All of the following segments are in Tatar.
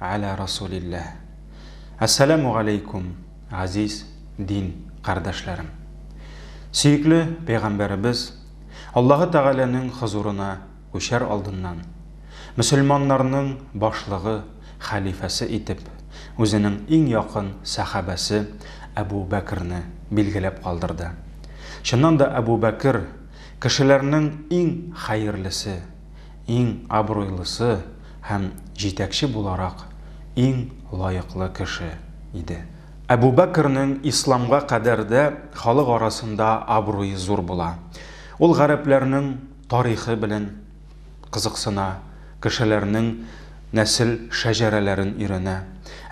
Гәлә Расулилләһ. Әссәләмү галәйкүм, газиз дин кардәшләрем. Сөекле Пәйгамбәребез, Аллаһы Тәгаләнең хозурына күчәр алдыннан, мөселманнарның башлыгы, хәлифәсе итеп, үзенең иң якын сәхабәсе Әбу Бәкерне билгеләп калдырды. Чыннан да Әбу Бәкер, кешеләрнең иң хәерлесе. иң абруйлысы һәм җитәкче буларак иң лаеклы кеше иде. Әбу Бәкернең исламга кадәр дә халык арасында абруе зур була. Ул гарәпләрнең тарихы белән кызыксына, кешеләрнең нәсел шәҗәрәләрен өйрәнә.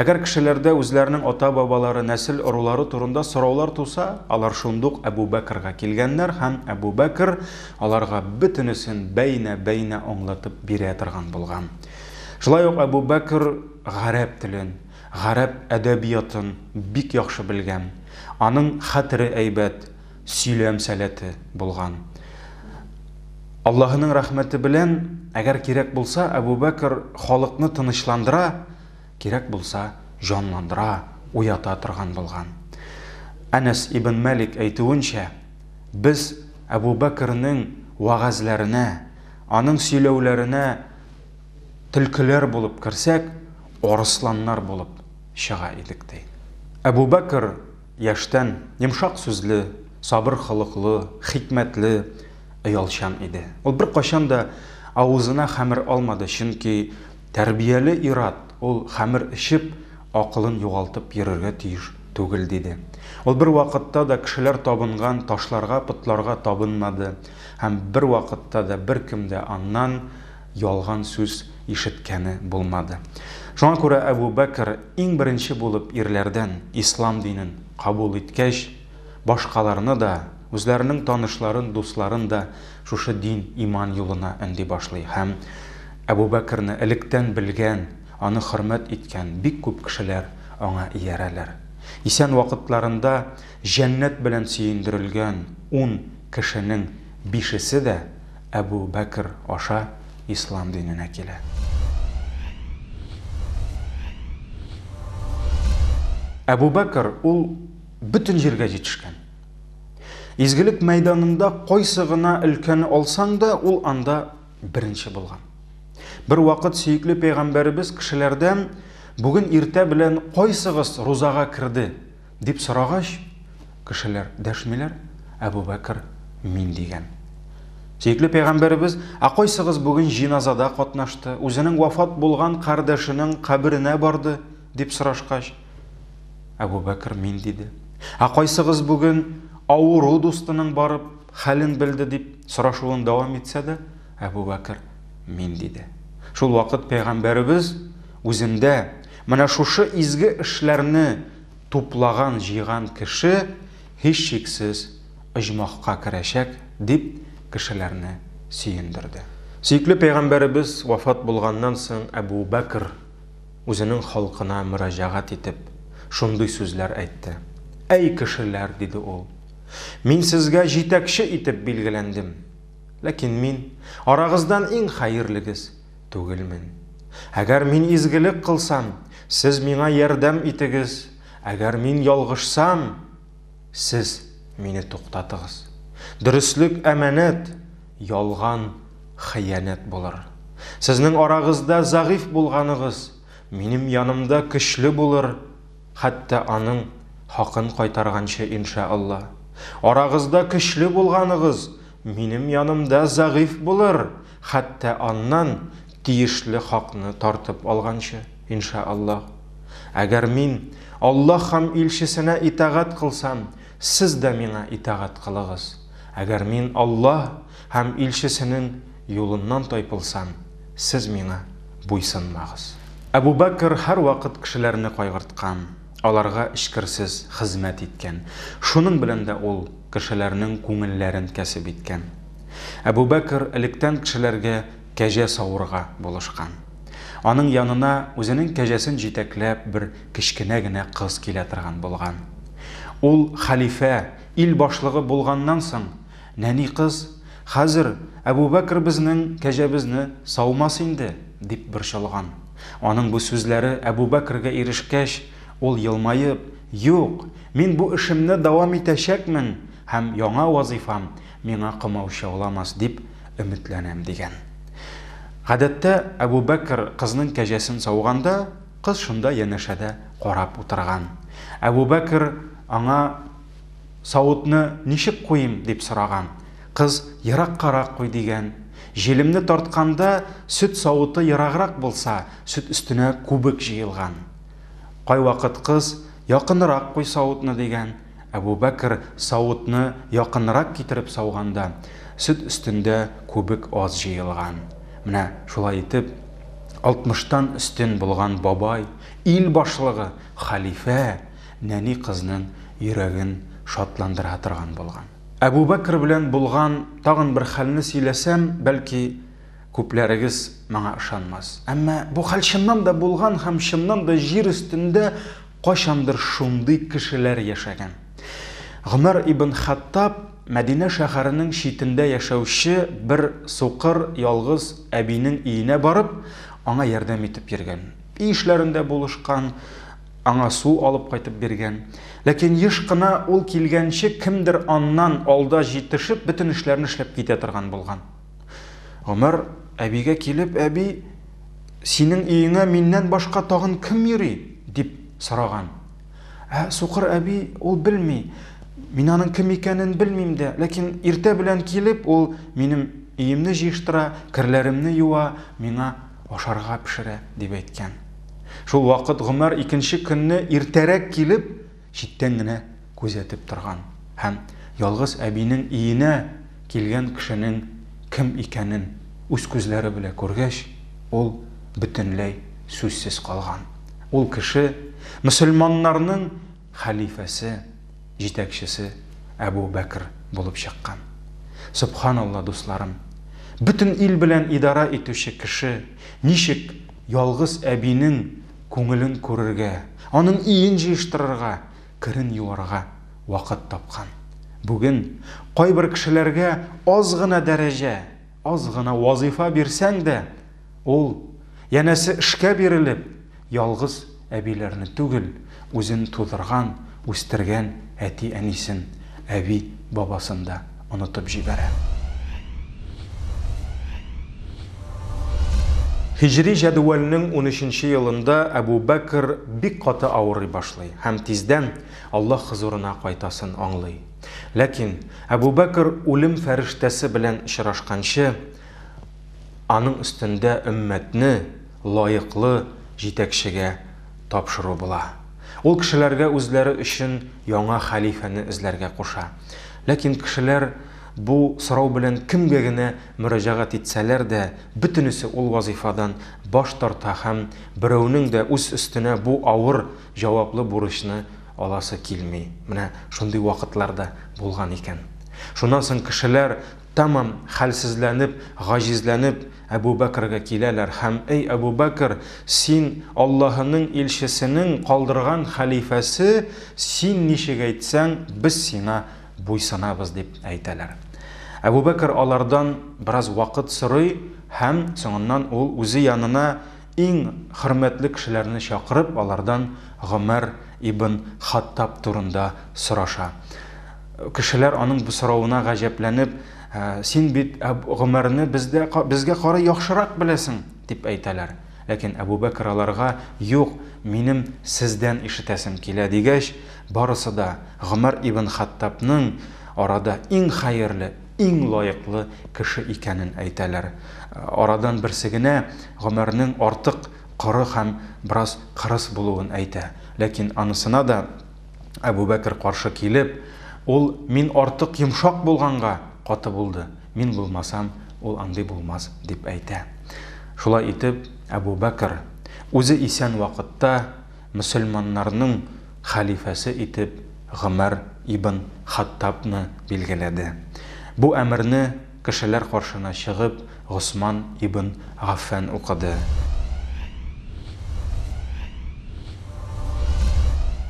Әгәр кешеләрдә үзләренең ата-бабалары, нәсел-ырулары турында сораулар туса, алар шундук Әбү Бәкргә килгәннәр һәм Әбү Бәкр аларга бөтенесен бәйнә-бәйнә аңлатып бирә торган булган. Шулай ук Әбү Бәкр гарәп телен, гарәп әдәбиятын бик яхшы белгән. Аның хәтере әйбәт. сөйләм сәләте булган. Аллаһының рәхмәте белән, әгәр кирәк булса, Әбу Бәкер халыкны тынычландыра, кирәк булса, җанландыра, уята торган булган. Әнәс ибн Мәлик әйтүенчә, без Әбу Бәкернең вәгазьләренә, аның сөйләүләренә төлкеләр булып керсәк, арысланнар булып чыга идек, ди. Әбу Бәкер Яшьтән йомшак сүзле, сабыр холыклы, хикмәтле, оялчан иде. Ул беркайчан да авызына хәмер алмады, чөнки тәрбияле ир-ат ул хәмер эчеп, акылын югалтып йөрергә тиеш түгел, диде. Ул бервакытта да кешеләр табынган ташларга, потларга табынмады һәм бервакытта да беркем дә аннан ялган сүз ишеткәне булмады. Шуңа күрә Әбү Бәкер иң беренче булып ирләрдән ислам динен кабул иткәч, башкаларны да, үзләренең танышларын, дусларын да шушы дин, иман юлына өнди башлый һәм Әбү Бәкерне электән белгән, аны хөрмәт иткән бик күп кешеләр аңа иярәләр. Исән вакытларында җәннәт белән сөендерелгән ун кешенең бишесе дә Әбү Бәкер аша ислам диненә килә. Әбү Бәкер ул бөтен җиргә җитешкән. Изгелек мәйданында кайсы гына өлкәне алсаң да, ул анда беренче булган. Бер вакыт сөекле пәйгамбәребез кешеләрдән, Бүген иртә белән кайсыгыз рузага керде? Дип сорагач, кешеләр дәшмиләр, Әбүбәкер, мин, дигән. Сөекле пәйгамбәребез, Ә кайсыгыз бүген җиназада катнашты, үзенең вафат булган кардәшенең каберенә барды? дип сорашкач, Әбүбәкер, мин, диде. Ә кайсыгыз бүген авыру дустының барып, хәлен белде, дип сорашуын дәвам итсә дә, Әбүбәкер, мин, диде. Шул вакыт пәйгамбәребез үзендә, Менә шушы изге эшләрне туплаган, җыйган кеше, һичшиксез, оҗмахка керәчәк, дип кешеләрне сөендерде. Сөекле пәйгамбәребез вафат булганнан соң Әбу Бәкер үзенең халкына мөрәҗәгать итеп, шундый сүзләр әйтте. Әй кешеләр, диде ул, мин сезгә җитәкче итеп билгеләндем. Ләкин мин, арагыздан иң хәерлегез. Түгелмен. Әгәр мин изгелек кылсам, сез миңа ярдәм итегез, әгәр мин ялгышсам, сез мине туктатыгыз. Дөреслек әманәт, ялган хыянәт булыр. Сезнең арагызда зәгыйфь булганыгыз, минем янымда көчле булыр, хәтта аның хакын кайтарганчы иншәАлла. Арагызда көчле булганыгыз, минем янымда зәгыйфь булыр. Хәтта аннан тиешле хакны тартып алганчы, инша Аллаһ. Әгәр мин Аллаһ һәм илчесенә итагать кылсам, сез дә миңа итагать кылыгыз. Әгәр мин Аллаһ һәм илчесенен юлыннан тайпылсам, сез миңа буйсынмагыз. Әбу Бәкер һәрвакыт кешеләрне кайгырткан, аларга эчкерсез хезмәт иткән. Шуның белән дә ул кешеләрнең күңелләрен кәсеп иткән. Әбүбәкер электән кешеләргә кәҗә савырга булышкан. Аның янына үзенең кәҗәсен җитәкләп бер кечкенә генә кыз килә торган булган. Ул хәлифә, ил башлыгы булганнан соң, нәни кыз, Хәзер Әбүбәкер безнең кәҗәбезне саумас инде, дип борчылган. Аның бу сүзләре Әбүбәкергә ирешкәч, ул елмаеп, Юк, мин бу эшемне дәвам итәчәкмен һәм яңа вазыйфам, Миңа комаучауламас дип өметләнәм, дигән. Гадәттә, Әбүбәкер кызның кәҗәсен сауганда, кыз шунда янәшәдә карап утырган. Әбүбәкер аңа, Савытны ничек куйыйм? дип сораган. Кыз, Ераккарак куй, дигән. Җилемне тартканда, сөт савыты ераграк булса, сөт өстенә күбек җыелган. Кайвакыт кыз, Якынрак куй савытны, дигән. Әбүбәкер савытны якынрак китереп сауганда, сөт өстендә күбек аз җыелган. Менә шулай итеп, алтмыштан өстен булган бабай, ил башлыгы, хәлифә, нәни кызның йөрәген шатландыра торган булган. Әбүбәкер белән булган тагын бер хәлне сөйләсәм, бәлки, күпләрегез моңа ышанмас. Әмма бу хәл чыннан да булган һәм чыннан да җир өстендә Кайчандыр шундый кешеләр яшәгән. Гомәр ибн Хаттаб Мәдинә шәһәренең читендә яшәүче бер сукыр, ялгыз әбинең өенә барып, аңа ярдәм итеп йөргән. Өй эшләрендә булышкан, аңа су алып кайтып биргән. Ләкин еш кына ул килгәнче кемдер аннан алда җитешеп, бөтен эшләрне эшләп китә торган булган. Гомәр әбигә килеп, әби, синең өеңә миннән башка тагын кем йөри? дип сораган. Ә сукыр әби ул белми, мин аның кем икәнен белмим дә, ләкин иртә белән килеп, ул минем өемне җыештыра, керләремне юа, миңа ашарга пешерә, дип әйткән. Шул вакыт Гомәр икенче көнне иртәрәк килеп, Читтән генә күзәтеп торган һәм ялгыз әбинең өенә килгән кешенең кем икәнен үз күзләре белә күргәч, ул бөтенләй сүзсез калган. Ул кеше, мөселманнарның хәлифәсе, җитәкчесе Әбү Бәкер булып чыккан. Сөбханалла, дусларым! Бөтен ил белән идарә итүче кеше ничек ялгыз әбинең күңелен күрергә, аның өен җыештырырга, керен юарга вакыт тапкан. Бүген кайбер кешеләргә аз гына дәрәҗә, аз гына вазыйфа бирсәң дә, ул, янәсе, эшкә бирелеп, ялгыз әбиләрне түгел, үзен тудырган, үстергән әти-әнисен, әби-бабасын да онытып җибәрә. Һиҗри җәдүәлнең унөченче елында Әбү Бәкер бик каты авырый башлый һәм тиздән Аллаһ хозурына кайтасын аңлый. Ләкин Әбү Бәкер үлем фәрештәсе белән очрашканчы, аның өстендә өммәтне лаеклы җитәкчегә тапшыру була. Ул кешеләргә үзләре өчен яңа хәлифәне эзләргә куша Ләкин кешеләр бу сорау белән кемгә генә мөрәҗәгать итсәләр дә, бөтенесе ул вазыйфадан баш тарта һәм берәүнең дә үз өстенә бу авыр, җаваплы бурычны аласы килми. Менә шундый вакытлар да булган икән. Шуннан соң кешеләр, тәмам хәлсезләнеп, гаҗизләнеп, Әбү Бәкргә киләләр һәм, Әй Әбү Бәкр, син, Аллаһының илчесенең калдырган хәлифәсе, син ничек әйтсәң, без сиңа буйсынабыз, дип әйтәләр. Әбү Бәкр алардан бераз вакыт сорый һәм соңыннан ул үзе янына Иң хөрмәтле кешеләрне чакырып, алардан Гомәр ибн Хаттаб турында сораша. Кешеләр аның бу соравына гаҗәпләнеп, Син бит Әбү Гомәрне бездә, безгә карый яхшырак беләсең! дип әйтәләр. Ләкин Әбү Бәкер аларга, Юк, минем сездән ишетәсем килә, дигәч, барысы да Гомәр ибн Хаттабның арада иң хәерле, иң лаеклы кеше икәнен әйтәләр. Арадан берсе генә Гомәрнең артык коры һәм бераз кырыс булуын әйтә. Ләкин анысына да Әбүбәкер каршы килеп, Ул мин артык йомшак булганга каты булды, мин булмасам, ул андый булмас, дип әйтә. Шулай итеп, Әбүбәкер, үзе исән вакытта, мөселманнарның хәлифәсе итеп Гомәр ибн Хаттабны билгеләде. Бу әмерне кешеләр каршына чыгып Госман ибн Гаффән укыды.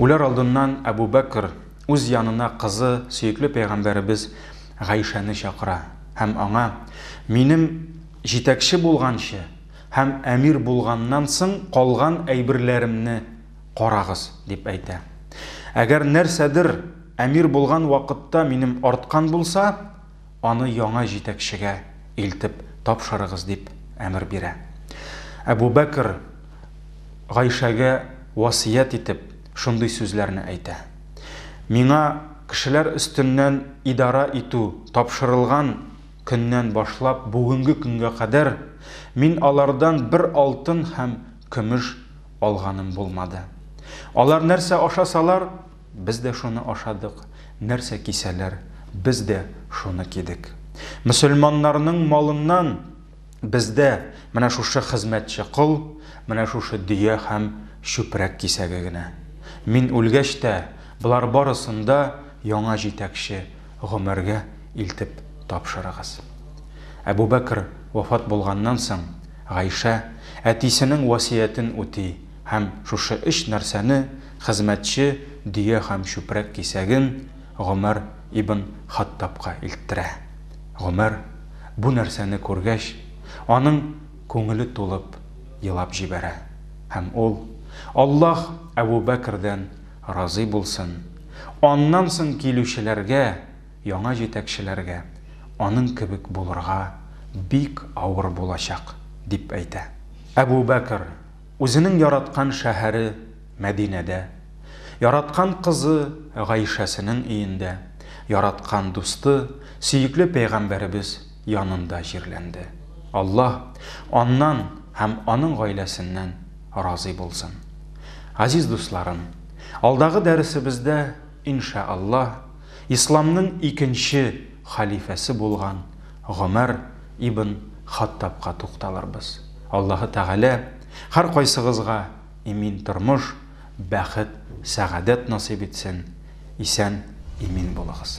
Үләр алдыннан Әбу Бәкр үз янына кызы, сөекле пәйгамбәребез Гайшәне чакыра һәм аңа, Минем җитәкче булганчы, Һәм әмир булганнан соң калган әйберләремне карагыз, дип әйтә. Әгәр нәрсәдер әмир булган вакытта минем арткан булса, аны яңа җитәкчегә илтеп тапшырыгыз, дип әмер бирә. Әбу Бәкер Гайшәгә васыять итеп, шундый сүзләрне әйтә. Миңа кешеләр өстеннән идарә итү тапшырылган. Көннән башлап бүгенге көнгә кадәр мин алардан бер алтын һәм көмеш алганым булмады. Алар нәрсә ашасалар, без дә шуны ашадык, нәрсә кисәләр, без дә шуны кидек. Мөселманнарның малыннан бездә менә шушы хезмәтче кол, менә шушы дөя һәм чүпрәк кисәге генә. Мин үлгәч тә, болар барысын да яңа җитәкче Гомәргә илтеп тапшырыгыз. Әбүбәкер вафат булганнан соң, Гайшә әтисенең васыятен үти һәм шушы өч нәрсәне, хезмәтче, дөя һәм чүпрәк кисәген, Гомәр ибн Хаттабка илттерә. Гомәр, бу нәрсәне күргәч, аның күңеле тулып, елап җибәрә. Һәм ул, Аллаһ Әбүбәкердән Разый булсын. Аннан соң килүчеләргә, яңа җитәкчеләргә аның кебек булырга бик авыр булачак, дип әйтә. Әбүбәкер үзенең яраткан шәһәре Мәдинәдә, яраткан кызы Гайшәсенең өендә, яраткан дусты, сөекле пәйгамбәребез, янында җирләнде. Аллаһ аннан һәм аның гаиләсеннән разый булсын. Газиз дусларым, алдагы дәресебездә, иншә Аллаһ, Исламның икенче халифәсе булган Гомәр ибн Хаттабка тукталырбыз. Аллаһы Тәгалә һәркайсыгызга имин тормыш, бәхет, сәгадәт насыйп итсен, исән, имин булыгыз.